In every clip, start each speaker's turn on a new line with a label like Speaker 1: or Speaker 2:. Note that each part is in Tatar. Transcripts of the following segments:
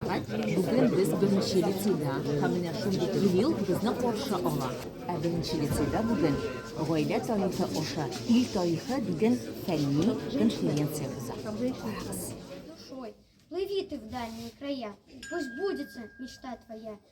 Speaker 1: Бүген без беренче лицейда һәм менә шундый юбилей безне каршы ала. Ә беренче лицейда бүген Гаилә тарихы аша ил тарихы дигән фәнни конференция уза. Карагыз. душой, плыви ты в дальние края, пусть сбудется мечта твоя,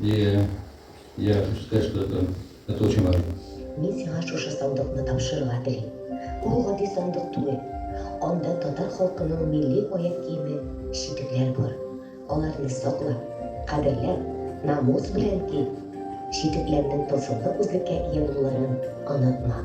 Speaker 1: Лия, я чувствую, что это, это очень важно. Мин сиңа шушы сандыкны тапшырырга телим. Бу гади сандык түгел. Анда татар халкының милли аяк киеме, читекләр бар. Аларны сакла, кадерләп, намус белән ки. Читекләрнең тылсымлы үзлеккә ия булуларын онытма.